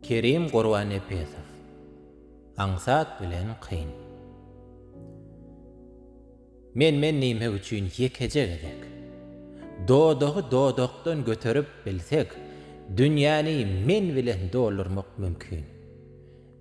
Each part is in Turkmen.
Kerim Gurbannepesow, Aňsat bilen kyn. Men-men nime üçin ýekeje gezek. Dodagy dodakdan göterip bilsek, dünýäni men bilen doldurmak mümkin.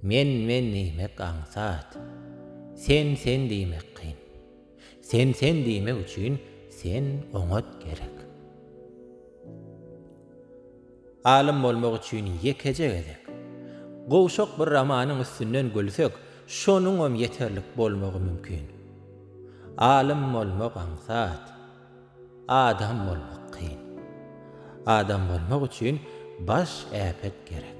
Men-men diýmek aňsat. Sen-sen diýmek kyn. Sen sen diýmek üçin sen oňat gerek. Alym bolmak üçin ýekeje gezek. Gowşak bir romanyň üstünden gülsek, şonuňam ýeterlik bolmagy mümkin. Alym bolmak aňsat. Adam bolmak kyn. Adam bolmak üçin baş äpet gerek.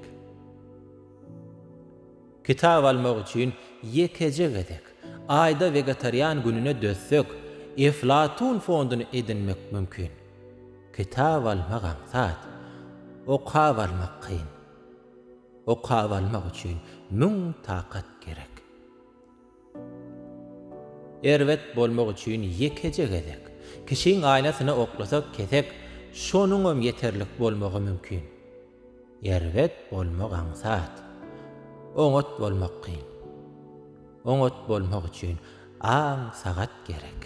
Kitap almak üçin ýekeje gezek, aýda wegetarian gününe dözsek, Eflatun fonduny edinmek mümkin. Kitap almak aňsat, okap almak kyn. Okap almak üçin müň takat gerek. Erbet bolmak üçin ýekeje gezek. Kişiň aýnasyna oklasak kesek, Şonuňam ýeterlik bolmagy mümkin. Erbet bolmak aňsat. Oňat bolmak kyn. Oňat bolmak üçin aň-sagat gerek.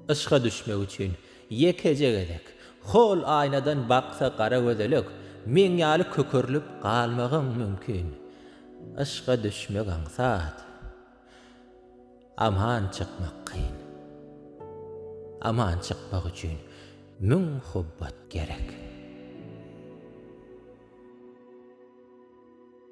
Yşka düşmek üçin ýekeje gezek. Hol aýnadan baksa gara gözelek, Meň ýaly kökerlip galmagyň mümkin. Yşka düşmek aňsat. Aman çykmak kyn. Aman çykmak üçin müň hubbat gerek.